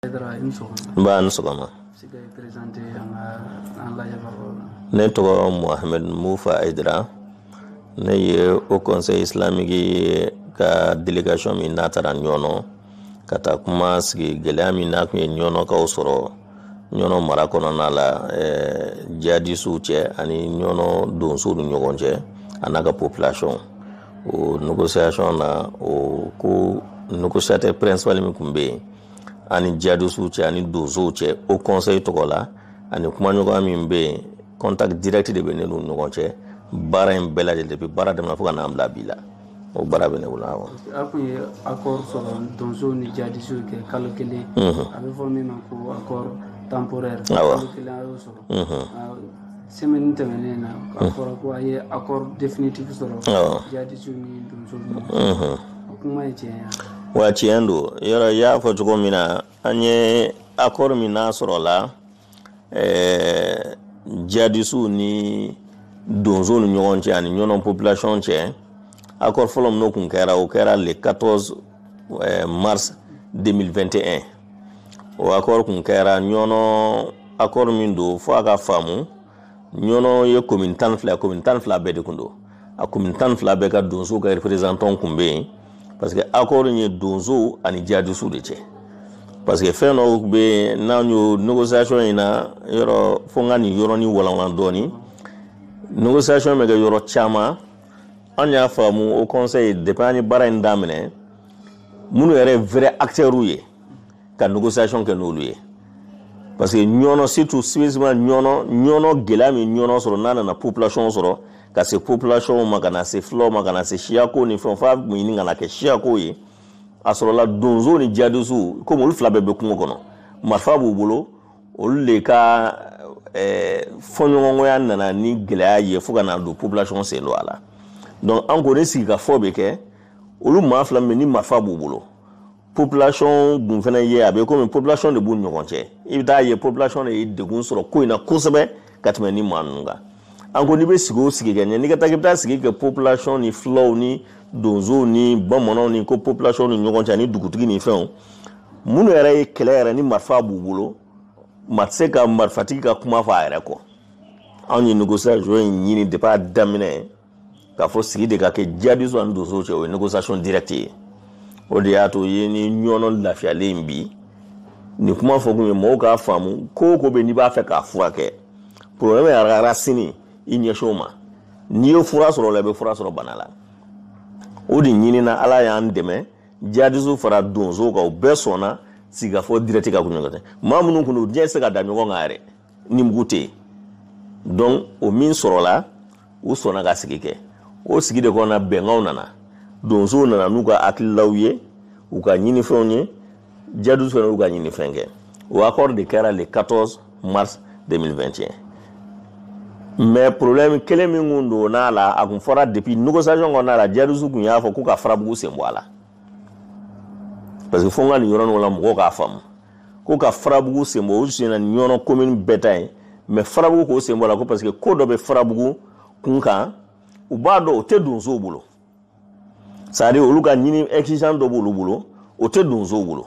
n b'a ni sɔgɔma ne tɔgɔ mohamed moufa haïdara ne ye haut conseil islamique ka delegation min n'a taara ɲɔnɔ ka taa kuma sigi gɛlɛya min n'a kun ye ɲɔnɔkaw sɔrɔ ɲɔnɔ mara kɔnɔna la jihadisiw cɛ ani ɲɔnɔ donsow ni ɲɔgɔn cɛ a n'a ka population o négociation na o ko négociateur principal min kun bɛ yen ani jihadisiw cɛ ani donsow cɛ haut conseil tɔgɔ la ani kumaɲɔgɔnya min bɛ yen contact direct de bɛ ne n'u ɲɔgɔn cɛ baara in bɛɛ lajɛlen depuis baara daminɛ fo ka n'an bila bi la o baara bɛ ne bolo awɔ. a tun ye accord sɔrɔ donsow ni jihadisiw cɛ kalo kelen a bɛ fɔ min ma ko accord temporaire kalo kelen a y'o sɔrɔ. semaine tɛmɛnen na a fɔra ko a ye accord définitif sɔrɔ Awɔ. jadisiw ni donsow ni ɲɔgɔn cɛ. o kuma ye tiɲɛ ye wa? awɔ tiɲɛ don yɔrɔ i y'a fɔ cogo min na an ye accord min n'a sɔrɔla ɛɛ jadisiw ni donsow ni ɲɔgɔn cɛ ani ɲɔnɔ population cɛ accord fɔlɔ min n'o kun kɛra o kɛra le 14 ɛɛ mars 2021 o accord kun kɛra ɲɔnɔ accord min don fo a ka faamu ɲɔnɔ ye commune tan fila commune tan fila bɛɛ de kun don a commune tan fila bɛɛ ka donsow ka représentant kun bɛ yen parce que accord ye donsow ani jadisiw de cɛ parce que fɛn dɔw bɛ yen n'an y'o négociation in na yɔrɔ fo n ka nin yɔrɔnin walanwalan dɔɔnin négociation bɛ kɛ yɔrɔ caman an y'a faamu haut conseil depuis an ye baara in daminɛ minnu yɛrɛ ye vrais acteurs ye ka négociation kɛ n'olu ye parce que ɲɔnɔ surtout spécifiquement ɲɔnɔ ɲɔnɔ gɛlɛya min ɲɔnɔ sɔrɔ n'a nana population sɔrɔ ka se population ma ka na se fulaw ma ka na se siyako ni fɛn f'a kun ɲini ka na kɛ siyako ye a sɔrɔla donsow ni jadisiw komi olu fila bɛɛ bɛ kungo kɔnɔ marifa b'u bolo olu de ka eh, fɔɲɔgɔnkɔya nana ni gɛlɛya ye fo ka na don population sen don a la donc an ko ni sigikafɔ bɛ kɛ olu maa fila min ni marifa b'u bolo population dun fana ye a bɛ komi population de b'u ɲɔgɔn cɛ i bɛ taa ye population de ye degun sɔrɔ ko in na kosɛbɛ ka tɛmɛ ni maa ninnu kan an ko n'i bɛ sigi o sigi kɛ ɲɛ n'i ka taa k'i bɛ taa sigi kɛ population ni filaw ni donsow ni bamananw ni ko population ni ɲɔgɔn cɛ ani dugutigi ni fɛnw minnu yɛrɛ ye kɛlɛ yɛrɛ ni marifa b'u bolo maa tɛ se ka marifatigi ka kuma fɔ a yɛrɛ kɔ anw ye négociation in ɲini depuis a daminɛ k'a fɔ sigi de ka kɛ jihadistes ani donsow cɛ o ye négociation directe ye o de y'a to ye ni ɲɔnɔ lafiyalen bi nin kuma fɔ kun ye mɔgɔw k'a faamu ko o ko bɛ n'i b'a fɛ k'a furakɛ problème yɛrɛ racine i ɲɛsin o ma n'i ye fura sɔrɔ o la i bɛ fura sɔrɔ bana la o de ɲinina ala y'an dɛmɛ jihadistes fara donsow kan o bɛɛ sɔnna sigikafɔ direct ka kuma ɲɔgɔn fɛ maa minnu kun don u ɲɛ tɛ se ka da ɲɔgɔn kan yɛrɛ ni mugu tɛ yen donc o min sɔrɔla u sɔnna ka sigi kɛ o sigi de kɔnɔna bɛnkanw nana donsow nana n'u ka hakililaw ye u ka ɲinifɛnw ye jihadistes fana y'u ka ɲinifɛn kɛ o accord de kɛra le 14 mars 2021 mais problème kelen min kun don n'a la a kun fɔra depuis négociation kɔnɔna la jihadistes kun y'a fɔ ko ka farabugu sen bɔ a la parce que fo n ka nin yɔrɔ nin la mɔgɔw k'a faamu ko ka farabugu sen bɔ o senna ɲɔnɔ commune bɛɛ ta ye mais farabugu k'o sen bɔ a la ko parce que ko dɔ bɛ farabugu kun kan u b'a dɔn o tɛ donsow bolo c'est à dire olu ka ɲini exigence dɔ b'olu bolo o tɛ donsow bolo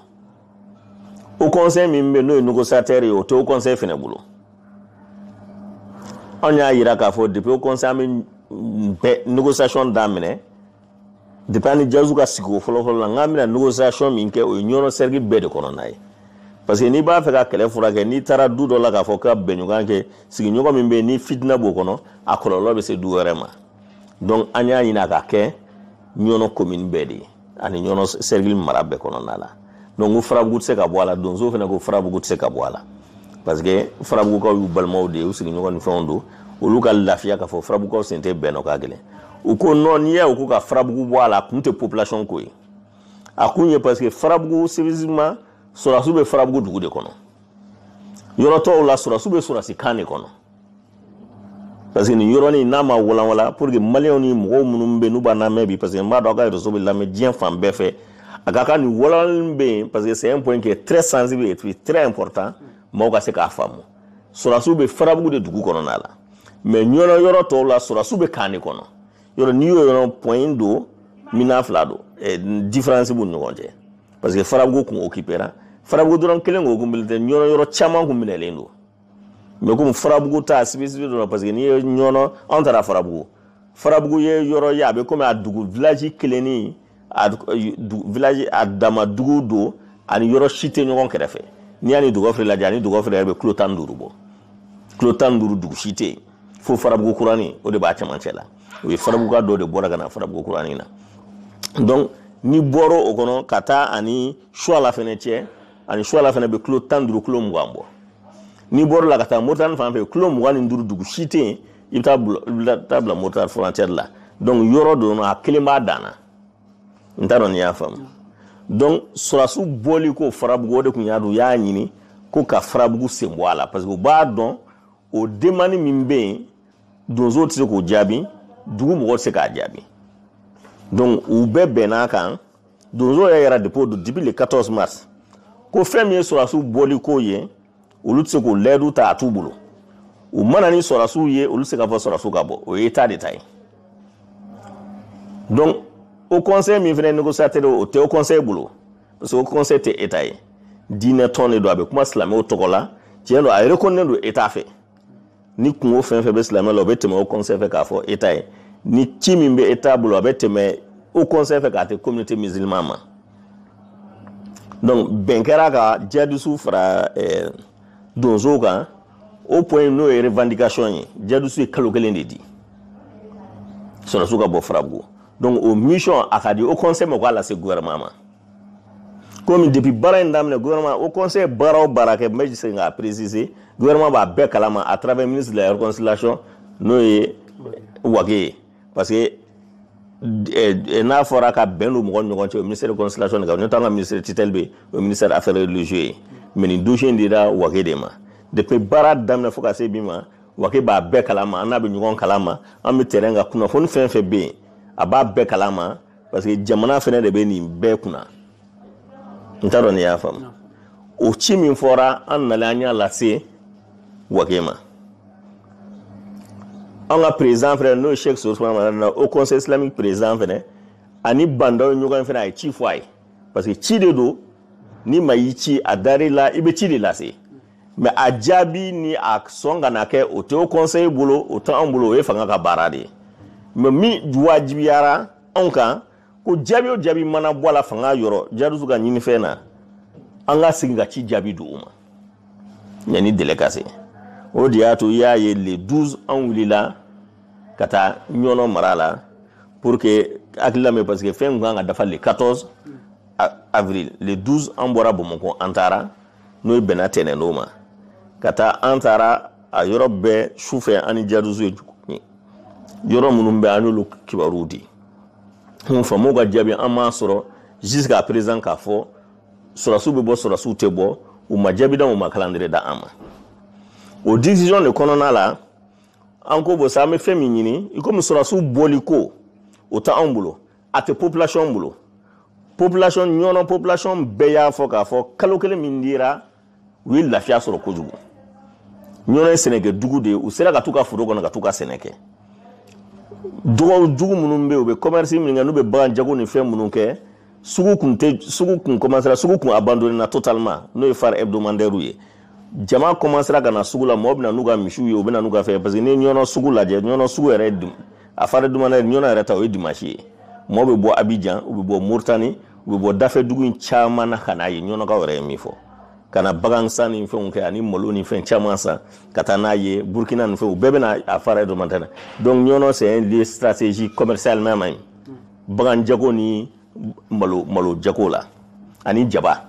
haut conseil min bɛ n'o ye négociateur ye o tɛ haut conseil fana bolo anw y'a jira k'a fɔ depuis haut conseil an bɛ négociation daminɛ depuis an ni jihadistes ka sigi o fɔlɔfɔlɔ la n k'an bɛna négociation min kɛ o ye ɲɔnɔ cercle bɛɛ de kɔnɔna ye parce que n'i b'a fɛ ka kɛlɛ furakɛ n'i taara du dɔ la k'a fɔ ka bɛnɲɔgɔn kɛ sigiɲɔgɔn min bɛ yen ni fitina b'o kɔnɔ a kɔlɔlɔ bɛ se du wɛrɛ ma donc an y'a ɲini a ka kɛ ɲɔnɔ commune bɛɛ de ye ani ɲɔnɔ cercle mara bɛɛ kɔnɔna la donc ko farabugu tɛ se ka bɔ a la donsow fana ko farabugu tɛ se ka bɔ a la parce que farabugukaw y'u balimaw de ye u sigiɲɔgɔn ni fɛnw don olu ka lafiya k'a fɔ farabugukaw sen tɛ bɛn na o ka gɛlɛn u ko non n'i y'a ye u ko ka farabugu bɔ a la a kun tɛ population ko ye a kun ye parce que farabugu spécifiquement sɔrɔdasiw bɛ farabugu dugu de kɔnɔ yɔrɔ tɔw la sɔrɔdasiw bɛ sɔrɔdasikan de kɔnɔ parce que nin yɔrɔnin n'a ma walanwala pour que maliyɛnw ni mɔgɔw minnu bɛ yen n'u b'a lamɛn bi parce que n b'a dɔn a ka réseau bɛ lamɛn diɲɛ fan bɛɛ fɛ a ka kan nin walanwalali bɛ yen parce que c'est un point qui est très sensible et puis très important maaw ka se k'a faamu sɔrɔdasiw bɛ farabugu de dugu kɔnɔna la mais ɲɔnɔ yɔrɔ tɔw la sɔrɔdasiw bɛ kan de kɔnɔ yɔrɔ n'i y'o yɔrɔ point dominant fila don eh, différence b'u ni ɲɔgɔn cɛ parce que farabugu kun occupera farabugu dɔrɔn kelen ko kun tɛ ɲɔnɔ yɔrɔ caman kun minɛlen don mais comme farabugu ta spécificité dɔ la parce que n'i ye ɲɔnɔ anw taara farabugu farabugu ye yɔrɔ ye a bɛ comme a dugu village kelenni a village a dama dugu don a ni yɔrɔ si tɛ ɲɔgɔn kɛrɛfɛ n'i y'a ni dugɔfere lajɛ a ni dugɔfere yɛrɛ bɛ kilo tan ni duuru bɔ kilo tan ni duuru dugu si tɛ yen fo farabugu kurani o de b'a cɛmancɛ la o ye farabuguka dɔ de bɔra ka na farabugu kurani na donc n'i bɔra o kɔnɔ ka taa a ni suala fɛnɛ cɛ ani suwala fɛnɛ bɛ kilo tan ni duuru kilo mugan bɔ n'i bɔra la ka taa moritani fan fɛ kilo mugan ni duuru dugu si tɛ yen i bɛ taa bila moritani frontière la donc yɔrɔ don a kelen b'a dan na n t'a dɔn n'i y'a faamu donc sɔrɔdasiw bɔli ko farabugu o de tun y'a dɔn u y'a ɲini ko ka farabugu sen bɔ a la parce que u b'a dɔn o demande min bɛ yen donso tɛ se k'o jaabi dugu mɔgɔ tɛ se k'a jaabi donc u bɛɛ bɛnn'a kan donso yɛrɛ yɛrɛ depuis o don depuis le 14 mars ko fɛn min ye sɔrɔdasiw bɔli ko ye olu tɛ se k'o layidu ta a t'u bolo u ma na ni sɔrɔdasiw ye olu tɛ se k'a fɔ sɔrɔdasiw ka bɔ o ye état de ta ye donc haut conseil min fɛnɛ négociateur o tɛ haut conseil bolo parce que haut conseil tɛ état ye diinɛ tɔn de don a bɛ kuma silamɛw tɔgɔ la tiɲɛ don a reconnaît don état fɛ ni kunko fɛn fɛn bɛ silamɛ la o bɛ tɛmɛ haut conseil fɛ k'a fɔ état ye ni ci min bɛ état bolo a bɛ tɛmɛ haut conseil fɛ k'a tɛ communauté musulman ma donc bɛn kɛra ka jihadisiw fara eh, donsow kan o point n'o ye revendication ye jihadisiw ye kalo kelen de di sɔrɔdasiw ka bɔ farabugu donc o mission a ka di haut conseil ma o k'a lase gouvernement ma komi depuis baara in daminɛ gouvernement haut conseil baara o baara kɛ n bɛ se k'a préciser gouvernement b'a bɛɛ kalama à travers ministre de la réconciliation n'o ye wage ye parce que eh, eh, n'a fɔra ka bɛn don mɔgɔ ni ɲɔgɔn cɛ o ministère de réconciliation de kan n'o t'an ka ministère tutelle bɛ o ministère affaires religieuses ye mais nin dossier in dira wage de ma depuis baara daminɛ fo ka se bi ma wage b'a bɛɛ kalama an n'a bɛ ɲɔgɔn kalama an bɛ terrain kan kunnafoni fɛn fɛn bɛ yen a b'a bɛɛ kalama parce que jamana fɛnɛ de bɛ nin bɛɛ kunna n t'a dɔn n'i y'a faamu o ci min fɔra an nalen an y'a lase wage ma an ka président fɛnɛ n'o ye cheikh ousmane madani haut conseil islamique président fɛnɛ a ni ba ndaw ɲɔgɔn fɛnɛ a ye ci fɔ a ye parce que ci de don ni maa y'i ci a dar'i la i bɛ ci de lase mais a jaabi ni a sɔn ka na kɛ o tɛ haut conseil bolo o tɛ anw bolo o ye fanga ka baara de ye mais min wajibiyara anw kan ko jaabi o jaabi mana bɔ a la fanga yɔrɔ jihadisiw ka ɲinifɛn na an ka segin ka ci jaabi di u ma yanni délai ka se o de y'a to i y'a ye le 12 an wulila ka taa ɲɔnɔ mara la pour que hakilila mɛn parce que fɛn tun kan ka dafa le 14 avril le 12 an bɔra bamakɔ an taara n'o ye bɛnna tɛnɛndon ma ka taa an taara a yɔrɔ bɛɛ su fɛ an ni jihadisiw ye yɔrɔ minnu bɛ an y'olu kibaruw di mun faamaw ka jaabi an m'a sɔrɔ jusqu'à présent k'a fɔ sɔrɔdasiw bɛ bɔ sɔrɔdasiw tɛ bɔ u ma jaabi d'an u ma calendrier d'an ma o décision de kɔnɔna la an ko bon sa an bɛ fɛn min ɲini i komi sɔrɔdasiw bɔli ko o tɛ anw bolo a tɛ population bolo population ɲɔnɔ population bɛɛ y'a fɔ k'a fɔ kalo kelen min dira u ye lafiya sɔrɔ kojugu ɲɔnɔ ye sɛnɛkɛ dugu de ye u sera ka t'u ka foro kɔnɔ ka t'u ka sɛnɛ kɛ dɔgɔw jugu minnu bɛ yen u bɛ commerce min kɛ n'u bɛ bagan jago ni fɛn minnu kɛ sugu kun tɛ sugu kun commencera sugu kun abandonner na totalement n'o ye foire hebdomadaire ye jama kɔmansera ka na sugu la mɔgɔ bɛ na n'u ka misiw ye u bɛ na n'u ka fɛn parce que n'i ye ɲɔnɔ sugu lajɛ ɲɔnɔ sugu yɛrɛ dun a foire hebdomadaire ɲɔnɔ yɛrɛ ta o ye dimansi ye mɔgɔ bɛ bɔ abijan u bɛ bɔ moritani u bɛ bɔ dafɛ dugu in caman na ka n'a ye ɲɔnɔkaw yɛrɛ ye min fɔ ka na bagan san ni fɛnw kɛ ani malo ni fɛn caman san ka taa n'a ye burkina ni fɛn u bɛɛ bɛ na a foire hebdomadaire donc ɲɔnɔ c'est un lieu stratégique commercialement même bagan jago ni malo malo jago la ani jaba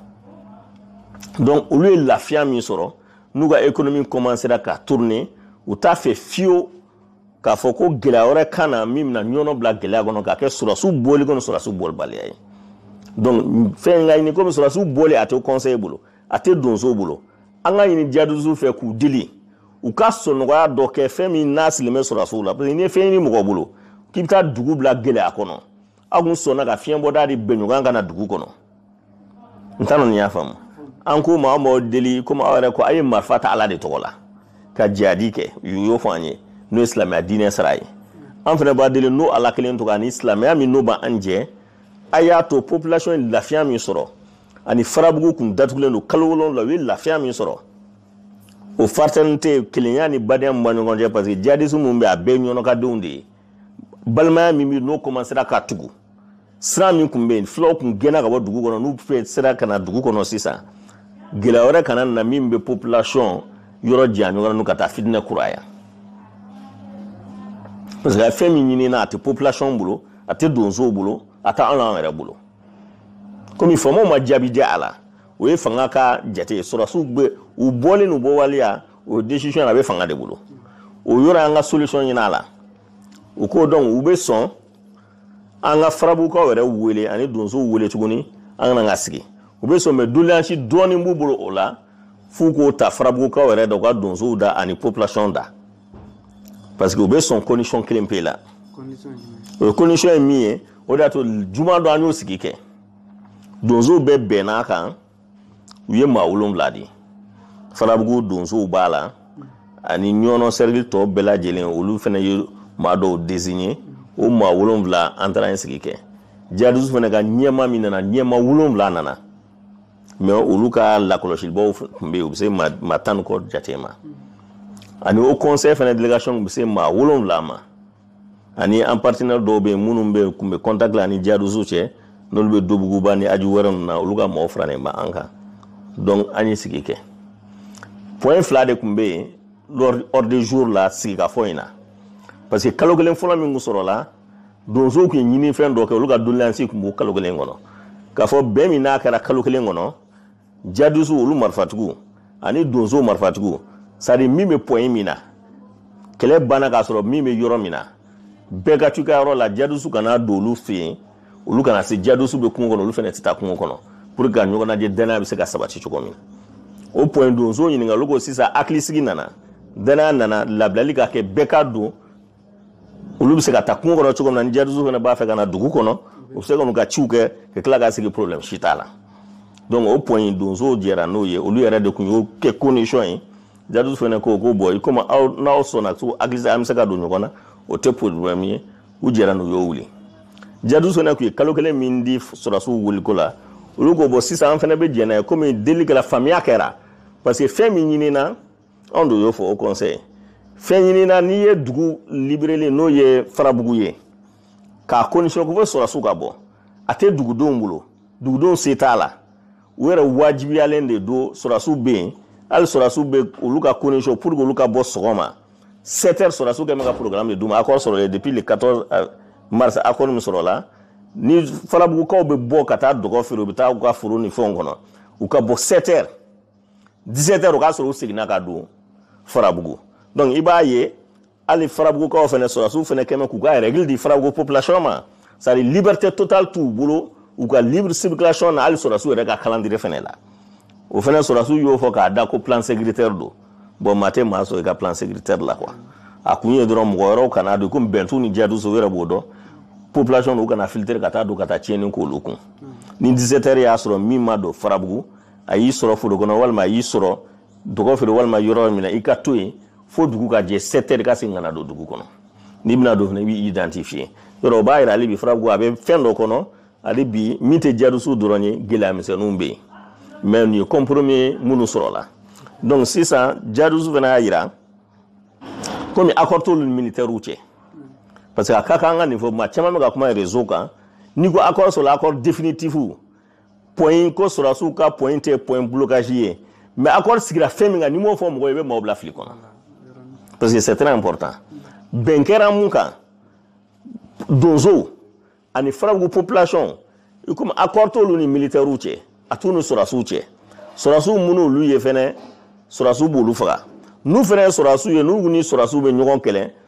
donc olu ye lafiya min sɔrɔ n'u ka ekonomi kɔmansera ka tourne u t'a fɛ fiyewu k'a fɔ ko gɛlɛya wɛrɛ ka na min bɛna ɲɔnɔ bila gɛlɛya kɔnɔ k'a kɛ sɔrɔdasiw bɔli kɔnɔ sɔrɔdasiw bɔlibaliya ye donc f'an k'a ɲini komi sɔrɔdasiw bɔli a tɛ conseil bolo a tɛ donsow bolo an k'a ɲini jihadistes fɛ k'u deli u ka sɔnɔgɔya dɔ kɛ fɛn min n'a sirilen bɛ sɔrɔdasiw la parce que n'i ye fɛn ɲini mɔgɔ bolo k'i bɛ taa dugu bila gɛlɛya kɔnɔ aw kun sɔnna ka fiɲɛbɔda di bɛnɲɔgɔn ka na dugu kɔnɔ n t'a dɔn n'i y'a faamu an k'u ma an b'aw deli komi aw yɛrɛ ko a ye marifa ta ala de tɔgɔ la ka jihadi kɛ u y'o fɔ an ye n'o ye silamɛya diinɛ sira ye an fana b'a deli n'o ala kelen tɔgɔ ani silamɛya min n'o b'an jɛ a y'a to population ye lafiya min sɔrɔ ani farabugu kun datugulen don kalo wolonwula u ye lafiya min sɔrɔ o fraternité kelenya ni badenya min b'a ɲɔgɔn cɛ parce que jihadisme min bɛ a bɛɛ ye ɲɔnɔkadenw de ye balimaya min bɛ n'o kɔmansera ka tugu siran min tun bɛ yen fulaw tun gɛnna ka bɔ dugu kɔnɔ n'u fana sera ka na dugu kɔnɔ sisan gɛlɛya wɛrɛ kana na min bɛ population yɔrɔ janya ɲɔgɔn na ka taa fitinɛ kuraya parce que a ye fɛn min ɲinina a tɛ population bolo a tɛ donsow bolo a tɛ anw n'an yɛrɛ bolo komi faamaw ma jaabi di a la o ye fanga ka jate ye sɔrɔdasiw bɛ u bɔli n'u bɔbaliya o décision a bɛ fanga de bolo o yɔrɔ an ka solution ɲini a la u ko donc u bɛ sɔn an ka farabukaw yɛrɛ wele ani donsow wele tuguni an ka na ka sigi u bɛ sɔn mɛ doleyansi dɔɔnin b'u bolo o la f'u k'o ta farabukaw yɛrɛ da u ka donsow da ani population da parce que u bɛ sɔn condition kelen pe la o ye condition ye min ye o de y'a to juma dɔ an y'o sigi kɛ donsow bɛɛ bɛnna a kan u ye maa wolonwula di farabugu donsow b'a la ani ɲɔnɔ cercle tɔ bɛɛ lajɛlen olu fana ye maa dɔw désigner o maa wolonwula an taara yen sigi kɛ jihadistes fana ka ɲɛmaa min nana ɲɛmaa wolonwula nana mɛ olu ka lakɔlɔsilibaw tun bɛ yen u bɛ se maa tan ni kɔ jate ma ani haut conseil fana délégation tun bɛ se maa wolonwula ma ani an partenaire dɔw bɛ yen minnu bɛ kun bɛ contact la an ni jihadistes cɛ n'olu bɛ dobuguba ni aju wɛrɛ ninnu na olu ka mɔgɔw faralen bɛ an kan donc an ye sigi kɛ point fila de tun bɛ yen l'ordre du jour la sigikafɔ in na parce que kalo kelen fɔlɔ min tun sɔrɔla donsow tun ye ɲinifɛn dɔ kɛ olu ka doléance tun b'o kalo kelen kɔnɔ k'a fɔ bɛn min n'a kɛra kalo kelen kɔnɔ jihadistes olu marifatigiw ani donsow marifatigiw c'est à dire min bɛ point min na kɛlɛ banna k'a sɔrɔ min bɛ yɔrɔ min na bɛɛ ka t'u ka yɔrɔ la jihadistes kana don olu fɛ yen olu kana se jihadistes bɛ kungo kɔnɔ olu fana tɛ taa kungo kɔnɔ pour que ka ɲɔgɔn lajɛ danaya bɛ se ka sabati cogo min o point donsow ɲininka olu ko sisan hakilisigi nana danaya nana labilali ka kɛ bɛɛ ka don olu bɛ se ka taa kungo kɔnɔ cogo min na ni jihadistes fana b'a fɛ ka na dugu kɔnɔ u bɛ se ka n'u ka ciw kɛ ka tila ka segin problème si t'a la donc o point in donsow jɛra n'o ye olu yɛrɛ de tun y'o kɛ condition ye jihadistes fana ko ko bon i komi aw n'aw sɔnna ko hakilisigi an bɛ se ka don ɲɔgɔn na o tɛ problème ye u jɛra n'o y'o wuli jihadistes fana tun ye kalo kelen min di sɔrɔdasiw wuliko la olu ko bon sisan an fana bɛ jɛn n'a ye komi delili kɛra faamuya kɛra parce que fɛn min ɲinina anw de y'o fɔ haut conseil fɛn ɲinina n'i ye dugu libérer n'o ye farabugu ye k'a condition ko fo sɔrɔsiw ka bɔ a tɛ dugudenw bolo dugudenw se t'a la u yɛrɛ wajibiyalen de don sɔrɔsiw bɛ yen hali sɔrɔsiw bɛ olu ka condition pour que olu ka bɔ sɔgɔma sept heures sɔrɔsiw kun bɛ ka programme de d'u ma accord sɔrɔlen depuis le 14 euh, mars accord min sɔrɔla ni farabugukaw bɛ bɔ ka taa dɔgɔfiri u bɛ taa u ka foro ni fɛnw kɔnɔ u ka bɔ sept heures 17 heures o k'a sɔrɔ u seginna ka don farabugu donc i b'a ye hali farabugukaw fana sɔrɔdasiw fana kun bɛ k'u ka règle di farabugu population ma c'est à dire liberté totale t'u bolo u ka libre circulation na hali sɔrɔdasiw yɛrɛ ka calendrier fana la o fana sɔrɔdasiw y'o fɔ k'a da ko plan sécuritaire don bon maa tɛ maa sɔsɔ i ka plan sécuritaire la quoi a kun ye dɔrɔn mɔgɔ wɛrɛw kana don komi bɛn t'u ni jihadistes u yɛrɛ b'o dɔn population u kana filtrer ka taa don ka taa tiɲɛni k'olu kun ni 17 heures y'a sɔrɔ min ma don farabugu a y'i sɔrɔ foro kɔnɔ walima a y'i sɔrɔ dɔgɔfiri walima yɔrɔ min na i ka to yen fo dugu ka jɛ sept heures ka segin ka na don dugu kɔnɔ n'i bɛna don fana i b'i identifier yɔrɔ o b'a yira hali bi farabugu a bɛ fɛn dɔ kɔnɔ hali bi min tɛ jihadistes dɔrɔn ye gɛlɛya misɛnninw bɛ yen mais nin ye compromis minnu sɔrɔla donc sisan jihadistes fana y'a jira komi accord t'olu ni militaires cɛ parce que a ka kan an ka nin fɔ maa caman bɛ ka kuma réseau kan n'i ko accord sɔrɔla accord définitif point ko sɔrɔdasiw ka point tɛ point blocage ye mais accord sigira fɛn min kan n'i m'o fɔ mɔgɔ ye i bɛ maaw bila fili kɔnɔ parce que c'est très important bɛn kɛra mun kan donsow ani farabugu population i komi accord t'olu ni militaires cɛ a t'u ni sɔrɔdasiw cɛ sɔrɔdasiw minnu olu ye fɛnɛ sɔrɔdasiw b'olu faga n'u fɛnɛ ye sɔrɔdasiw ye n'u ni sɔrɔdasiw bɛ ɲɔgɔn kɛlɛ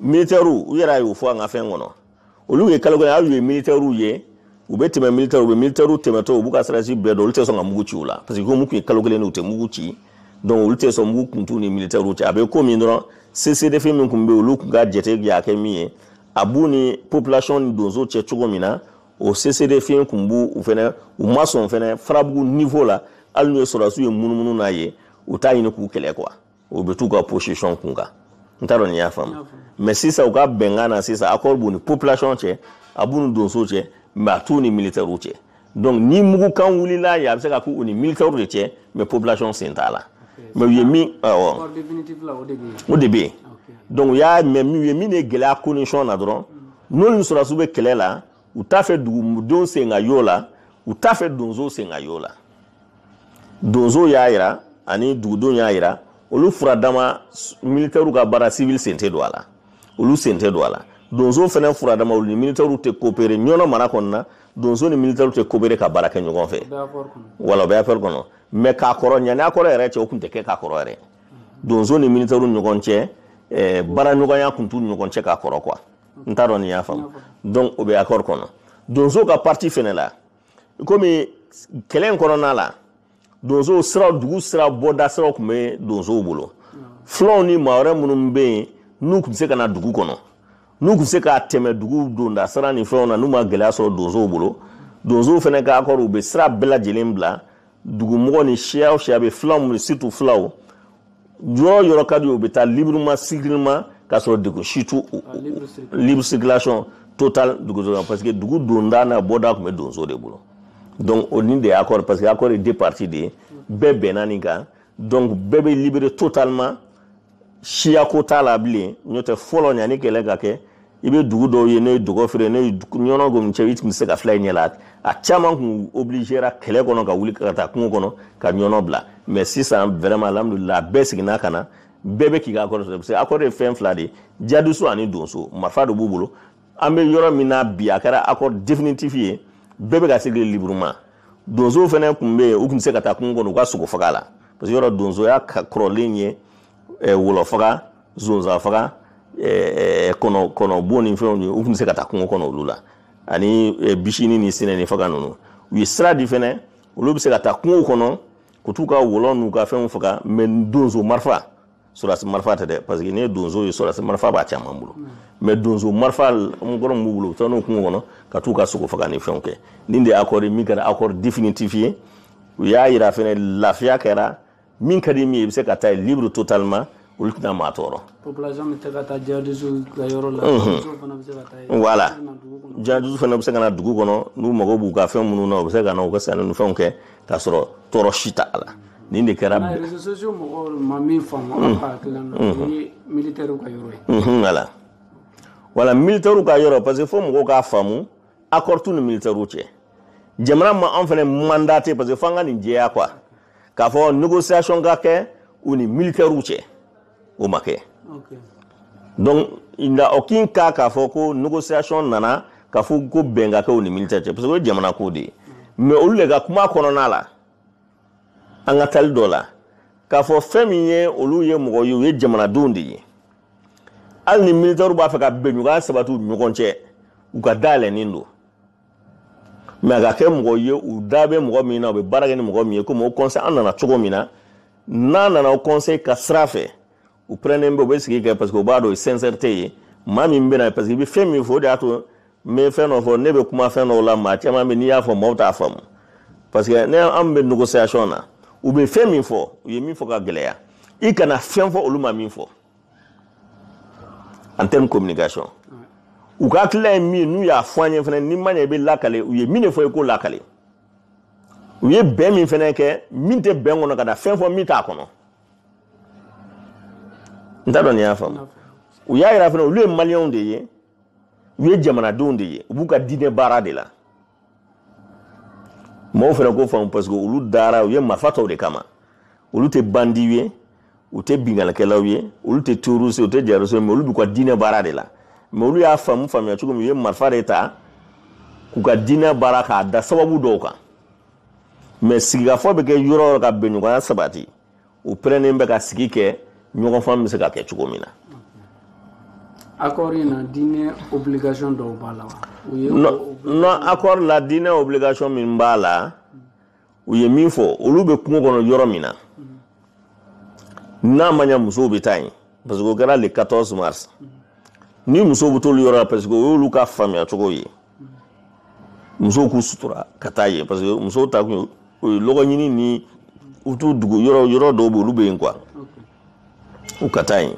militɛriw u yɛrɛ y'o fɔ an ka fɛn kɔnɔ olu ye kalo kelen aw ye militɛriw ye u bɛ tɛmɛ militɛriw u bɛ militɛriw tɛmɛtɔ u b'u ka sarasi bɛɛ dɔn olu tɛ sɔn ka mugu ci u la parce que komi tun ye kalo kelen u tɛ mugu ci donc olu tɛ sɔn mugu kun t'u ni militɛriw cɛ a bɛ ko min dɔrɔn cessez-le-feu min tun bɛ olu tun ka jate y'a kɛ min ye a b'u ni population ni donso cɛ cogo min na o cessez-le-feu tun b'u u fɛnɛ u ma sɔn fɛnɛ farabugu niveau la hali n'u ye sɔrɔdasiw ye munumunu na yen u t'a ɲini k'u kɛlɛ quoi u bɛ t'u ka position kun kan n t'a dɔn n'i y'a faamu mɛ sisan u ka bɛnkan na sisan accord b'u ni population cɛ a b'u ni donsow cɛ mɛ a t'u ni militɛriw cɛ donc ni mugukan wulila yen a bɛ se ka k'u ni militɛriw de cɛ mɛ population sen t'a la mɛ u ye min awɔ o de bɛ yen donc u y'a mɛ u ye min de gɛlɛya condition na dɔrɔn n'olu ni sɔrɔdasiw bɛ kɛlɛ la u t'a fɛ dugudenw sen ka y'o la u t'a fɛ donsow sen ka y'o la donso y'a yira ani dugudenw y'a yira olu furadama militɛriw ka baara sivili sen tɛ don a la olu sen tɛ don a la donsow fɛnɛ furadama olu ni militɛriw tɛ kopere ɲɔnɔ mara kɔnɔna donso ni militɛriw tɛ kopere ka baara kɛ ɲɔgɔn fɛ voilà o bɛ afɛri kɔnɔ mɛ ka kɔrɔ ɲani akɔri yɛrɛ cɛ o tun tɛ kɛ ka kɔrɔ yɛrɛ donso ni militɛriw ɲɔgɔn cɛ eh, baara ɲɔgɔnya tun t'u ɲɔgɔn cɛ ka kɔrɔ quoi n t'a dɔn n'i y'a faamu donc o bɛ akɔri kɔnɔ donso ka parti fɛnɛ la komi kɛlɛ in kɔnɔna la donsow sira dugu sira bɔda siraw tun bɛ donsow bolo filaw ni maa wɛrɛ minnu bɛ yen n'u tun bɛ se ka na dugu kɔnɔ n'u tun bɛ se ka tɛmɛ dugu donda sira ni fɛnw na n'u ma gɛlɛya sɔrɔ donsow bolo donsow fɛnɛ ka akɔri u bɛ sira bɛɛ lajɛlen bila dugumɔgɔ ni siya o siya bɛ fulaw minnu surtout fulaw yɔrɔ yɔrɔ ka di u bɛ taa librement sigilenma k'a sɔrɔ degun si t'u libre circulation totale duguso kan parce que dugu donda n'a bɔda tun bɛ donso de bolo donc o nin de ye accord parce que accord ye deux parties de ye bɛɛ bɛnna nin kan donc bɛɛ bɛ libéré totalement siyako t'a la bilen n'o tɛ fɔlɔ ɲani kɛlɛ ka kɛ i bɛ dugu dɔw ye n'o ye dɔgɔfiri n'o ye ɲɔnɔ gomi cɛ i tun bɛ se ka fila y'i ɲɛ la a caman tun obligera kɛlɛ kɔnɔ ka wuli ka taa kungo kɔnɔ ka ɲɔnɔ bila mɛ sisan vraiment alhamdulila a bɛɛ seginna ka na bɛɛ bɛ k'i ka akɔri sɔrɔ parce que akɔri ye fɛn fila de ye jadisi ani donso marifa de b'u bolo an bɛ yɔrɔ min na bi a kɛra akɔri definitif ye bɛɛ bɛ ka circuler librement donsow fɛnɛ tun bɛ yen u tun bɛ se ka taa kungo kɔnɔ u ka sogo faga la parce que yɔrɔ donsoya kɔrɔlen ye wɔlɔ faga zonzan faga kɔnɔ bon ni fɛnw ye u tun bɛ se ka taa kungo kɔnɔ olu la ani bisini ni sinɛnin faga ninnu u ye sira di fɛnɛ olu bɛ se ka taa kungo kɔnɔ ka t'u ka wɔlɔ n'u ka fɛnw faga mɛ donso marifa sɔrɔdasi marifa tɛ dɛ parce que n'i ye donso ye sɔrɔdasi marifa b'a caman bolo mɛ donso marifa kɔrɔ min b'u bolo u bɛ taa n'o kungo kɔnɔ ka t'u ka sogo faga ni fɛnw kɛ nin de ye akɔri ye min kɛra akɔri definitif ye u y'a yira fɛnɛ lafiya kɛra min ka di min ye i bɛ se ka taa ye libre totalement olu tɛna maa tɔɔrɔ population bɛ se ka taa jihadisu ka yɔrɔ la donsow fana bɛ se ka taa yen voilà jihadisu fana bɛ se ka na dugu kɔnɔ n'u mago b'u ka fɛn minnu na u bɛ se ka na u ka sanni ni fɛnw kɛ k'a sɔrɔ tɔɔrɔ si t'a la nin de kɛra réseaux sociaux mɔgɔw ma min faamu an ka hakilina na o ye militaire ka yɔrɔ ye voilà wala militaire ka yɔrɔ parce que fo mɔgɔw k'a faamu accord t'u ni militaire cɛ jamana ma an fana mandaté parce que fo an ka nin jɛya quoi k'a fɔ négociation ka kɛ u ni militaires cɛ o ma kɛ donc en aucun cas k'a fɔ ko négociation nana k'a fɔ ko bɛn ka kɛ u ni militaire cɛ parce que o ye jamana ko de ye mais olu de ka kuma kɔnɔna la an ka taali dɔ la k'a fɔ fɛn min ye olu ye mɔgɔ ye u ye jamanadenw de ye hali ni militaires b'a fɛ ka bɛnɲɔgɔnya sabati u ni ɲɔgɔn cɛ u ka da yɛlɛnnen don mais a ka kɛ mɔgɔ ye u da bɛ mɔgɔ min na u bɛ baara kɛ ni mɔgɔ min ye komi Haut Conseil an nana cogo min na n'a nana Haut Conseil ka sira fɛ u pɛrɛnnen bɛ u bɛ sigi kɛ parce que u b'a dɔn sincérité ye maa min bɛ na parce que i bɛ fɛn min fɔ o de y'a to n bɛ fɛn dɔ fɔ ne bɛ kuma fɛn dɔw la maa caman bɛ n'i y'a fɔ maaw t'a faamu parce que ne an bɛ négociation na u bɛ fɛn min fɔ u ye min fɔ ka gɛlɛya i kana fɛn fɔ olu ma min fɔ en termes communication u ka hakilila ye min ye n'u y'a fɔ an ye fana ni ma ɲɛ i b'a lakali u ye min de fɔ i k'o lakali u ye bɛn min fana kɛ min tɛ bɛn kɔnɔ kana fɛn fɔ min t'a kɔnɔ n t'a dɔn n'i y'a faamu u y'a jira fana olu ye maliyɛnw de ye u ye jamanadenw de ye u b'u ka diinɛ baara de la mɔgɔw fana k'o faamu parce que olu dara u ye marifa ta o de kama olu tɛ bandiw ye u tɛ binkannikɛlaw ye olu tɛ terroriste u tɛ jihadistes mais olu b'u ka diinɛ baara de la mais olu y'a faamu faamuya cogo min u ye marifa de ta k'u ka diinɛ baara k'a da sababu dɔw kan mais sigikafɔ bɛ kɛ yɔrɔ o yɔrɔ ka bɛnɲɔgɔnya sabati u pɛrɛnnen bɛ ka sigi kɛ ɲɔgɔn faamu bɛ se ka kɛ cogo min na accord in na diinɛ obligation dɔw b'a la non accord la diinɛ obligation min b'a la u ye min fɔ olu bɛ kungo kɔnɔ yɔrɔ min na n'a ma ɲa musow bɛ taa yen parce que o kɛra le 14 mars ni musow bɛ t'olu yɔrɔ la parce que o y'olu ka faamuya cogo ye musow k'u sutura ka taa yen parce que musow ta kun o ye lɔgɔ ɲini ni u t'u dugu yɔrɔ yɔrɔ dɔw bɛ olu bɛ yen quoi u ka taa yen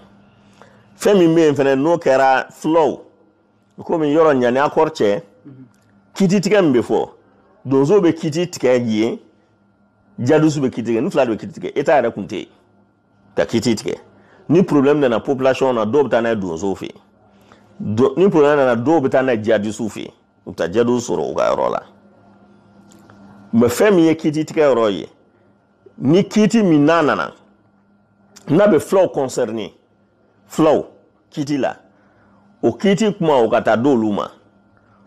fɛn min bɛ yen fɛnɛ n'o kɛra fulaw komi yɔrɔ ɲani accord cɛ kiti tigɛ min bɛ fɔ donso bɛ kiti tigɛ yen jihadisu bɛ kiti tigɛ nin fila de bɛ kiti tigɛ État yɛrɛ kun tɛ yen ka kiti tigɛ ni problème nana population na dɔw bɛ taa n'a ye donsow fɛ yen ni problème nana dɔw bɛ taa n'a ye jihadisiw fɛ yen u bɛ taa jihadisiw sɔrɔ u ka yɔrɔ la mais fɛn min ye kiti tigɛ yɔrɔ ye ni kiti min n'a nana n'a bɛ fulaw concerné fulaw kiti la o kiti kuma o ka taa d'olu ma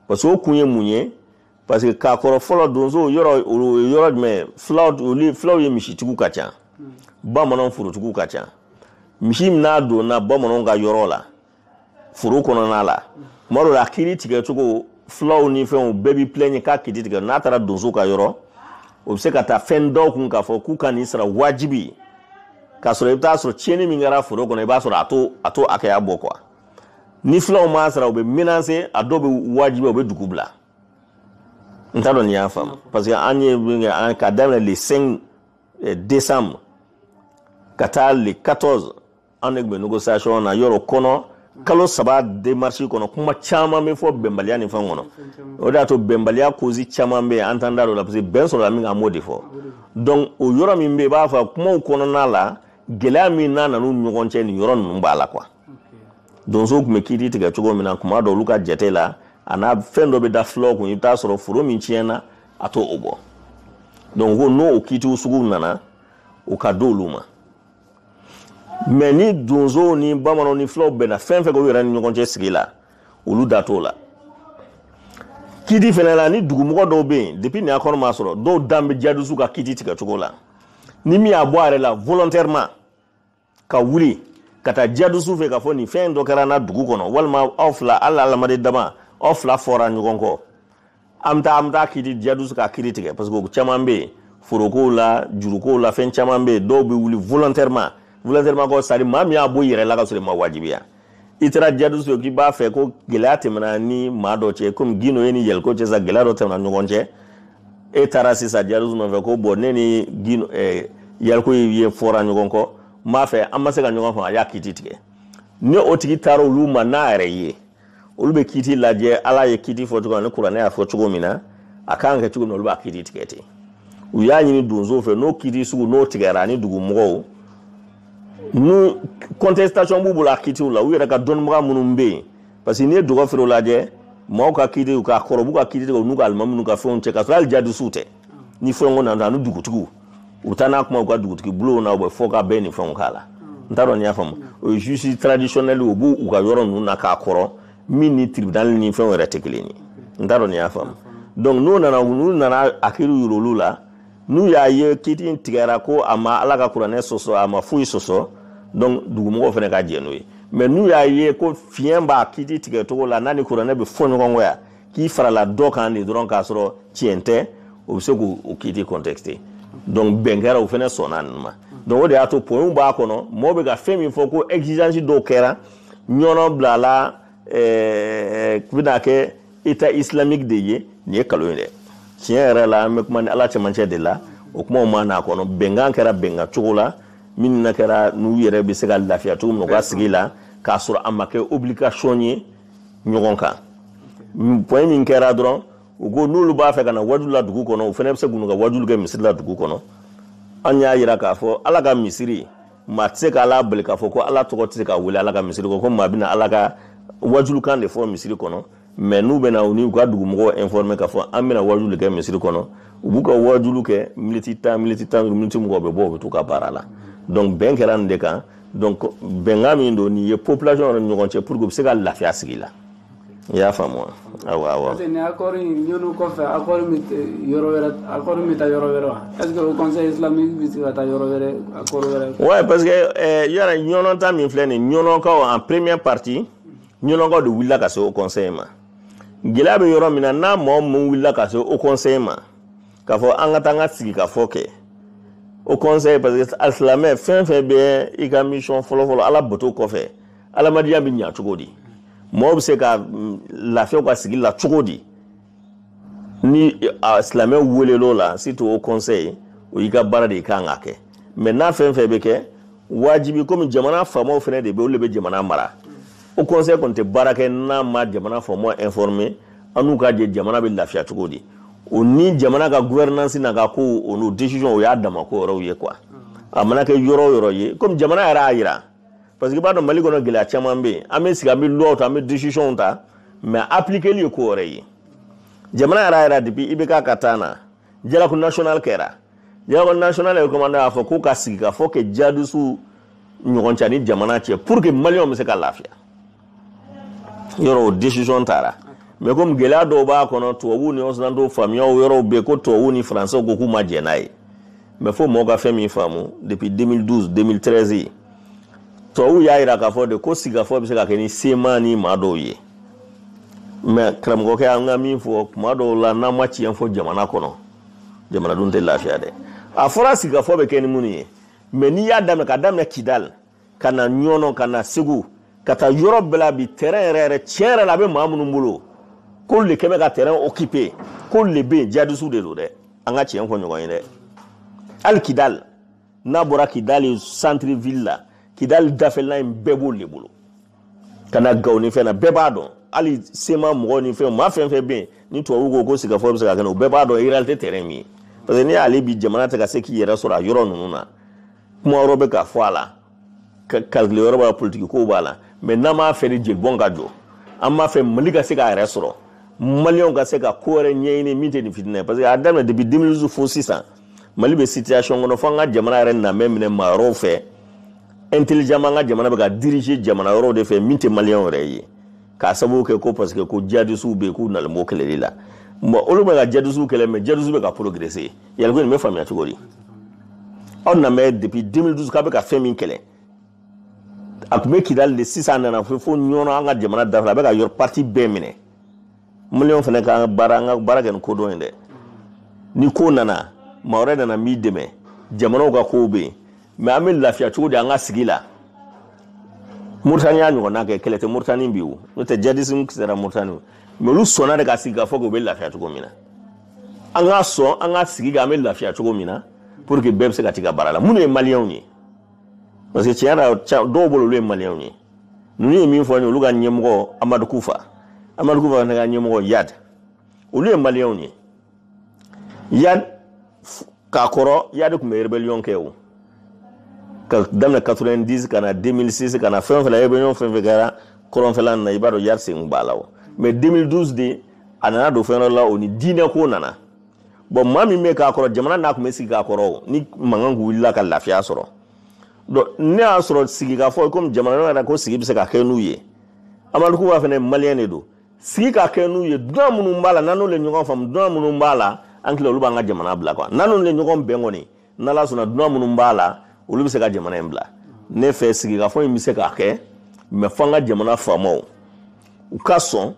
parce que o kun ye mun ye parce que k'a kɔrɔ fɔlɔ donso yɔrɔ o ye yɔrɔ jumɛn ye fulaw olu fulaw ye misitigiw ka ca bamananw forotigiw ka ca misi min n'a donna bamananw ka yɔrɔ la foro kɔnɔna la tuma dɔ la a kiri tigɛ cogo fulaw ni fɛnw bɛɛ b'i plaigner k'a kiri tigɛ n'a taara donso ka yɔrɔ o bɛ se ka taa fɛn da u kun k'a fɔ k'u ka nin sara wajibi k'a sɔrɔ i bɛ taa sɔrɔ tiɲɛni min kɛra foro kɔnɔ i b'a sɔrɔ a t'o a t'o hakɛya bɔ quoi ni fulaw m'a sara u bɛ menacer a dɔw bɛ wajibi u bɛ dugu bila n t'a dɔn n'i y'a faamu parce que an ye min kɛ an ka daminɛ le 5 eh, décembre ka taa le 14 an de tun bɛ négociation na yɔrɔ kɔnɔ kalo saba démarche kɔnɔ kuma caman bɛ fɔ bɛnbaliya ni fɛn kɔnɔ o de y'a to bɛnbaliya cause caman bɛ yen an t'an da don o la parce que bɛn sɔrɔla min kan an b'o de fɔ donc o yɔrɔ min bɛ yen i b'a fɔ kumaw kɔnɔna la gɛlɛya min n'a nan'u ɲɔgɔn cɛ nin yɔrɔ ninnu b'a la quoi donso tun bɛ kiiri tigɛ cogo min na tuma dɔ olu ka jate la a n'a fɛn dɔ bɛ da fulaw kun i bɛ t'a sɔrɔ foro min tiɲɛna a t'o bɔ donc ko n'o o kiitiw sugu nana o ka di olu ma mais ni donsow ni bamananw ni fulaw bɛnna fɛn fɛn k'u yɛrɛ ni ɲɔgɔn cɛ sigi la olu da t'o la kiti fana la ni dugumɔgɔ dɔw bɛ yen depuis nin accord ma sɔrɔ dɔw dan bɛ jadusu ka kiti tigɛ cogo la ni min y'a bɔ a yɛrɛ la volontairement ka wuli ka taa jadusu fɛ k'a fɔ nin fɛn dɔ kɛra n na dugu kɔnɔ walima aw fila hali adamaden dama aw fila fɔra ɲɔgɔn kɔ an bɛ taa an bɛ taa kiti jadusu ka kiri tigɛ parce que caman bɛ yen forokow la jurukow la fɛn caman bɛ yen dɔw bɛ wuli volontairement volontairement quoi c'est-à-dire maa min y'a bɔ i yɛrɛ la ka sɔrɔ i ma wajibiya i taara jadusu ye k'i b'a fɛ ko gɛlɛya tɛmɛna ni maa dɔ cɛ komi guindo e ni yalcouyé cɛ sisan gɛlɛya dɔ tɛmɛna ɲɔgɔn cɛ e taara sisan jadusu nɔfɛ ko bon ne ni guindo eh, yalcouyé fɔra ɲɔgɔn kɔ n b'a fɛ an ma se ka ɲɔgɔn faamu a y'a kiti tigɛ ni o tigi taara olu ma n'a yɛrɛ ye olu bɛ kiti lajɛ ala ye kiti fɔ cogo min na ni kuranɛ y'a fɔ cogo min na a kan ka kɛ cogo min na olu b'a kiti tigɛ ten u y'a ɲini donso fɛ n'o kiti sugu n'o tigɛra ani dugumɔgɔw n'u contestation b'u bolo a kitiw la u yɛrɛ ka dɔnnibaga minnu bɛ yen parce que n'i ye dɔgɔfiri lajɛ maaw ka kitiw k'a kɔrɔ u b'u ka kiti tigɛ u n'u ka alimami n'u ka fɛnw cɛ ka sɔrɔ hali jadisiw tɛ ni fɛnko nana ani dugutigiw u taa n'a kuma u ka dugutigi bulonw na u bɛ fɔ ka bɛn ni fɛnw k'a la n t'a dɔn n'i y'a faamu o ye juge traditionnel u b'u u ka yɔrɔ ninnu na k'a kɔrɔ min ni tribunal ni fɛnw yɛrɛ tɛ kelen ye n t'a dɔn n'i y'a faamu donc n'u nana n'u nana a kiriw yira olu la n'u y'a ye kiti in tigɛra ko a ma ala ka kuranɛ sɔsɔ a ma foyi sɔsɔ donc dugumɔgɔw fana ka jɛn n'o ye mais n'u y'a ye ko fiɲɛ b'a kiti tigɛ cogo la n'a ni kuranɛ bɛ fɔ ɲɔgɔn kɔ yan k'i farala dɔ kan de dɔrɔn k'a sɔrɔ tiɲɛ tɛ o bɛ se k'o kiti contester donc bɛn kɛra u fana sɔnna ninnu ma donc o de y'a to points b'a kɔnɔ mɔgɔw bɛ ka fɛn min fɔ ko exigence dɔw kɛra ɲɔnɔ bila la ɛɛ bɛna kɛ état islamique de ye nin ye nkalon ye dɛ tiɲɛ yɛrɛ la an bɛ kuma ni ala cɛmancɛ de la o kumaw ma n'a kɔnɔ bɛnkan kɛra bɛnkan cogo la min na kɛra n'u yɛrɛ bɛ se ka lafiya cogo min na u ka sigi la k'a sɔrɔ a ma kɛ obligation ye ɲɔgɔn kan point min kɛra dɔrɔn u ko n'olu b'a fɛ ka na wajulu la dugu kɔnɔ u fana bɛ se k'u ka wajulu kɛ misiri la dugu kɔnɔ an y'a jira k'a fɔ ala ka misiri maa tɛ se ka ala bali k'a fɔ ko ala tɔgɔ tɛ se ka wele ala ka misiri kɔ ko maa bɛna ala ka wajulukan de fɔ misiri kɔnɔ mais n'u bɛna u n'u ka dugumɔgɔw informer k'a fɔ an bɛna wajulu kɛ misiri kɔnɔ u b'u ka wajulu kɛ miniti tan miniti tan duuru miniti mugan u bɛ bɔ u bɛ t'u ka baara la donc bɛn kɛra nin de kan donc bɛnkan min don nin ye population yɛrɛ ni ɲɔgɔn cɛ pour que u bɛ se ka lafiya sigi la i y'a faamu wa awɔ awɔ parce que ni accord in ɲɔnɔ kɔfɛ accord bɛ yɔrɔ wɛrɛ accord bɛ taa yɔrɔ wɛrɛ wa est ce que haut conseil islamique bɛ se ka taa yɔrɔ wɛrɛ accord wɛrɛ ouais parce que eh, yɔrɔ ɲɔnɔ ta min filɛ nin ɲɔnɔkaw en première partie ɲɔnɔkaw de wulila ka se haut conseil ma gɛlɛya bɛ yɔrɔ min na n'a mɔgɔ min wulila ka se haut conseil ma k'a fɔ an ka taa an ka sigikafɔ kɛ haut conseil parce que alisilamɛ fɛn fɛn bɛ i ka mission fɔlɔfɔlɔ ala bato kɔfɛ adamadenya bɛ ɲa cogo di mɔgɔ bɛ se ka mm, lafiya ka sigi la cogo di ni silamɛw welel'o la surtout haut conseil o y'i ka baara de i kan ka kɛ mais n'a fɛn fɛn bɛ kɛ wajibi komi jamana faamaw fana de bɛ olu de bɛ jamana mara haut conseil kɔni tɛ baara kɛ n'a ma jamana faamaw informer an n'u ka jɛ jamana bɛ lafiya cogo di o ni jamana ka gouvernance n'a ka ko o n'o decision o y'a dama ko yɔrɔw ye quoi a mana kɛ yɔrɔ o yɔrɔ ye komi jamana yɛrɛ y'a jira parce que i b'a dɔn mali kɔnɔ gɛlɛya caman bɛ yen an bɛ sigi an bɛ lois ta an bɛ decisionw ta mais appliqueli ye ko wɛrɛ ye jamana yɛrɛ yɛrɛ depuis ibk ka temps na dialogue national kɛra dialogue national recommandation y'a fɔ ko ka sigikafɔ kɛ jihadistes ɲɔgɔn cɛ ni jamana cɛ pour que maliyɛnw bɛ se ka lafiya yɔrɔ o decision taara mais komi gɛlɛya dɔw b'a kɔnɔ tubabuw ni occidentaux faamuyaw yɔrɔw bɛ yen ko tubabuw ni faransɛw ko k'u ma jɛn n'a ye mais fo mɔgɔ ka fɛn min faamu depuis 2012 2013 tubabuw y'a jira k'a fɔ de ko sigikafɔ bɛ se ka kɛ ni cma ni maa dɔw ye mais karamɔgɔkɛ an ka min fɔ tuma dɔw la n'an ma tiɲɛ fɔ jamana kɔnɔ jamanadenw tɛ lafiya dɛ a fɔra sigikafɔ bɛ kɛ ni minnu ye mais n'i y'a daminɛ ka daminɛ kidali ka na ɲɔnɔ ka na segu ka taa yɔrɔ bɛɛ la bi terrain yɛrɛ yɛrɛ tiɲɛ yɛrɛ la a bɛ maa minnu bolo k'olu de kɛ bɛ ka terrain occuper k'olu de bɛ yen jihadisiw de don dɛ an ka tiɲɛ fɔ ɲɔgɔn ye dɛ hali kidali n'a bɔra kidali centre ville la kidali dafɛla in bɛɛ b'olu de bolo ka na gawo ni fɛn na bɛɛ b'a dɔn hali cma mɔgɔ ni fɛn maa fɛn fɛn bɛ yen ni tubabu ko ko sigikafɔ bɛ se ka kɛ o bɛɛ b'a dɔn réalité terrain min ye parce que n'i y'a lajɛ bi jamana tɛ ka se k'i yɛrɛ sɔrɔ a yɔrɔ ninnu na kuma yɔrɔ bɛ ka fɔ a la calcul yɔrɔ b'a la politiki kow b'a la mais n'an b'a fɛ ni jelibɔn ka jɔ an b'a fɛ mali ka se k'a yɛrɛ sɔrɔ maliyɛnw ka se ka ko wɛrɛ ɲɛɲini min tɛ nin fitinɛ ye parce que a daminɛ depuis 2012 fo sisan mali bɛ situation kɔnɔ fo an ka jamana yɛrɛ nana minɛ maa wɛrɛw fɛ intelligemment an ka jamana bɛ ka diriger jamana wɛrɛw de fɛ min tɛ maliyɛnw yɛrɛ ye k'a sababu kɛ ko parce que ko jihadisiw bɛ yen k'u nalen b'o kɛlɛli la bon olu bɛ ka jihadisiw kɛlɛ mais jihadisiw bɛ ka progresser yali ko nin bɛ faamuya cogo di aw nana mɛn depuis 2012 k'a bɛ ka fɛn min kɛlɛ a tun bɛ kidali de sisan a nana fo fo ɲɔnɔ an ka jamana da fɛ a bɛ ka yɔrɔ partie bɛɛ minɛ maliyɛnw fana ka baara an ka baara kɛ ni kodɔn ye dɛ ni ko nana maa wɛrɛ nana min dɛmɛ jamanaw ka kow bɛ yen mais an bɛ lafiya cogo di an ka sigi la muritani y'a ɲɔgɔnna kɛ kɛlɛ tɛ muritani bi o n'o tɛ jihadisme sera muritani o mais olu sɔnna de ka sigi k'a fɔ k'u bɛ lafiya cogo min na an ka sɔn an ka sigi kan an bɛ lafiya cogo min na pour que bɛɛ bɛ se ka t'i ka baara la minnu ye maliyɛnw ye parce que tiɲɛ yɛrɛ dɔw bolo olu ye maliyɛnw ye ninnu ye min fɔ an ye olu ka ɲɛmɔgɔ amadu kufa amadu kufa fana ka ɲɛmɔgɔ iyad olu ye maliyɛnw ye iyad ka kɔrɔ iyad tun bɛ rébellion kɛ o ka daminɛ 90 ka na 2006 ka na fɛn fɛn la rébellion fɛn fɛn kɛra kɔrɔnfɛla na i b'a dɔn iyad sen b'a la o mais 2012 de a nana don fɛn dɔ la o ni diinɛ ko nana bon maa min bɛ ka kɔrɔ jamana n'a tun bɛ sigi ka kɔrɔ o ni mankan tun wulila ka lafiya sɔrɔ donc ne y'a sɔrɔ sigikafɔ komi jamana yɛrɛ ko sigi bɛ se ka kɛ n'u ye amadu kufa fana maliyɛn de don sigi ka kɛ n'u ye dunan minnu b'a la n'an n'olu ye ɲɔgɔn faamu dunan minnu b'a la an tila olu b'an ka jamana bila quoi n'an n'olu ye ɲɔgɔn bɛn kɔni n'ala sɔnna dunan minnu b'a la olu bɛ se ka jamana in bila ne fɛ sigikafɔ in bɛ se ka kɛ mais fo an ka jamana faamaw u ka sɔn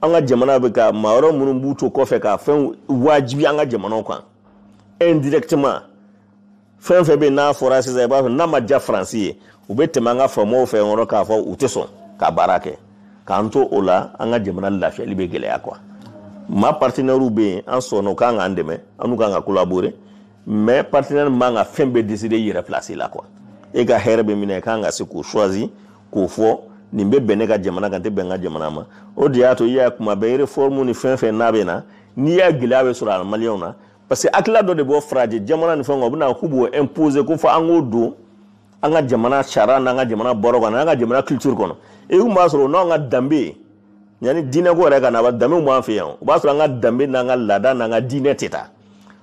an ka jamana bɛ ka maa wɛrɛ minnu b'u to kɔfɛ ka fɛn wajibi an ka jamanaw kan indirectement fɛn fɛn bɛ n'a fɔra sisan i b'a sɔrɔ n'a ma diya faransi ye u bɛ tɛmɛ an ka faamaw fɛ yɔrɔ k'a fɔ u tɛ sɔn ka baara kɛ k'an to o la an ka jamana lafiyali bɛ gɛlɛya quoi mais partenaires bɛ yen an sɔnna u kan k'an dɛmɛ an n'u kan ka collaborer mais partenaire man ka fɛn bɛɛ décider i yɛrɛ place la quoi e ka hɛrɛ bɛ min na i kan ka se k'o choisir k'o fɔ nin bɛ bɛn ne ka jamana kan tɛ bɛn n ka jamana ma o de y'a to i y'a kuma bɛɛ réforme ni fɛn fɛn n'a bɛ na n'i y'a gɛlɛya bɛ sɔrɔ a maliyɛnw na parce que hakilila dɔ de bɔ farajɛ jamana ni fɛn kan u bɛna k'u b'o imposer ko fɔ an k'o don an ka jamana sariya n'an ka jamana bɔrɔ kɔnɔ n'an ka jamana culture kɔnɔ e kun b'a sɔrɔ n'an ka danbe ye yanni diinɛko yɛrɛ ka na ba danbew b'an fɛ yan o b'a sɔrɔ an ka danbe n'an ka laada n'an ka diinɛ tɛ taa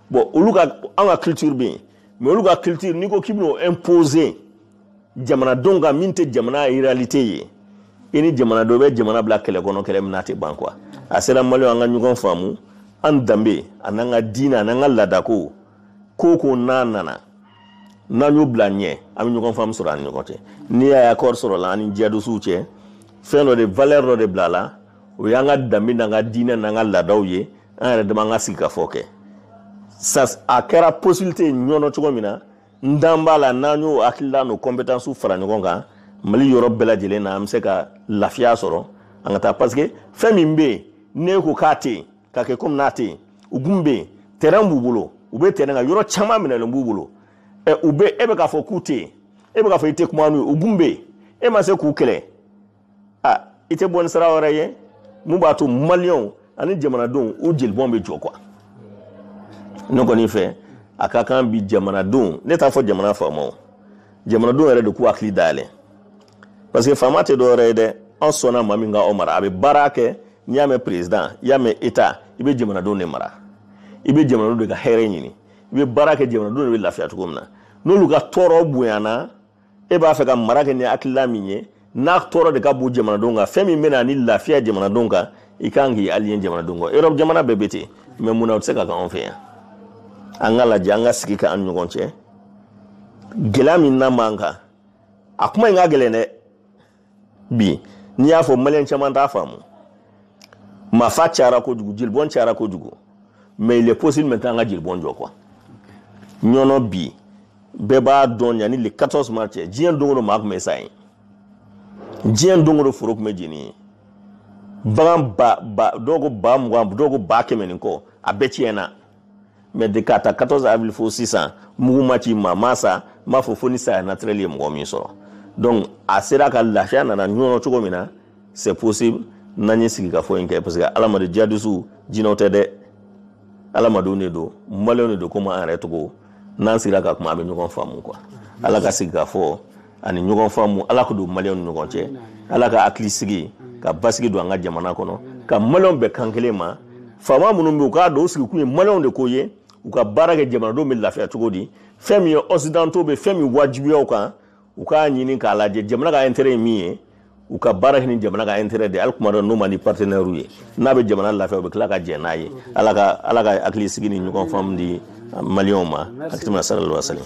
bon olu ka an ka culture bɛ yen mais olu ka culture n'i ko k'i bɛn'o imposer jamanadenw kan min tɛ jamana réalité ye i ni jamanadenw bɛ jamana bila kɛlɛ kɔnɔ kɛlɛ min n'a tɛ ban quoi a sera maliyɛnw an ka ɲɔgɔn faamu an danbe a n'an ka diinɛ a n'an ka laadako ko ko n'a nana n'an y'o bila ɲɛ an bɛ ɲɔgɔn faamu sɔrɔ an ni ɲɔgɔn cɛ n'i y'a ye accord sɔrɔla an ni jihadisiw cɛ fɛn dɔ de valeur dɔ de bila a la o y'an ka danbe n'an ka diinɛ n'an ka laadaw ye an yɛrɛ dama an ka sigikafɔ kɛ a kɛra possibilité ye ɲɔnɔ cogo min na n dan b'a la n'an y'o hakilila n'o compétences fara ɲɔgɔn kan mali yɔrɔ bɛɛ lajɛlen na an bɛ se ka lafiya sɔrɔ an ka taa parce que fɛn min bɛ yen n'e ko k'a tɛ yen ka kɛ komi n'a tɛ yen u gun bɛ yen terrain b'u bolo u bɛ terrain kan yɔrɔ caman minɛlen b'u bolo ɛ u bɛ e bɛ k'a fɔ k'u tɛ yen e bɛ k'a fɔ i tɛ kuma n'u ye u gun bɛ yen e ma se k'u kɛlɛ a i tɛ bɔ ni sira wɛrɛ ye mun b'a to maliyɛnw ani jamanadenw u jelibɔn bɛ jɔ quoi ne kɔni fɛ a ka kan bi jamanadenw ne t'a fɔ jamana faamaw jamanadenw yɛrɛ de k'u hakili dayɛlɛ parce que faama tɛ dɔwɛrɛ ye dɛ an sɔnna maa min ka aw mara a bɛ baara kɛ n'i y'a mɛn président i y'a mɛn état i bɛ jamanadenw de mara i bɛ jamanadenw de ka hɛrɛ ɲini i bɛ baara kɛ jamanadenw de bɛ lafiya cogo min na n'olu ka tɔɔrɔ bonyana e b'a fɛ ka mara kɛ ni hakilila min ye n'a tɔɔrɔ de ka bon jamanadenw kan fɛn min bɛna ni lafiya jamanadenw kan i kan k'i allier jamanadenw kan europe jamana bɛɛ bɛ ten mais munna o tɛ se ka kɛ anw fɛ yan an ka lajɛ an ka sigi kɛ an ɲɔgɔn cɛ gɛlɛya min na man kan a kuma in ka gɛlɛn dɛ bi n'i y'a fɔ maliyɛn caman t'a faamu maafaa cayara kojugu jelibɔn cayara kojugu mais il est possible maintenant an ka jelibɔn jɔ quoi ɲɔnɔ bi bɛɛ b'a dɔn yanni le 14 mars cɛ diɲɛ don o don maa tun bɛ sa yen diɲɛ don o don foro tun bɛ jeni yen bagan ba ba dɔw ko ba mugan dɔw ko ba kɛmɛ ni kɔ a bɛɛ tiɲɛna mais de k'a ta 14 avril fo sisan mugu ma ci maa ma sa n b'a fɔ fo ni saya naturel ye mɔgɔ min sɔrɔ donc a sera ka lafiya nana ɲɔnɔ cogo min na c'est possible n'an ye sigikafɔ in kɛ parce que adamaden jihadisiw jinɛw tɛ dɛ adamadenw de don maliyɛnw de don komi an yɛrɛ cogo n'an sigira ka kuma an bɛ ɲɔgɔn faamu quoi ala ka sigikafɔ ani ɲɔgɔn faamu ala ka don maliyɛnw ni ɲɔgɔn cɛ ala ka hakili sigi ka basigi don an ka jamana kɔnɔ ka maliyɛnw bɛn kan kelen ma faama minnu bɛ yen u k'a dɔn u sigikun ye maliyɛnw de ko ye u ka baara kɛ jamanadenw bɛ lafiya cogo di fɛn min ye occidentaux bɛ fɛn min wajibiya u kan u k'a ɲini k'a lajɛ jamana ka intérêt ye min ye u ka baara kɛ ni jamana ka intérêt de ye hali kuma dɔ n'o man di partenaires ye n'a bɛ jamana lafiya u bɛ tila ka jɛn n'a ye ala ka ala ka hakili sigi ni ɲɔgɔn faamu di maliyɛnw ma allahumma salli wa sallim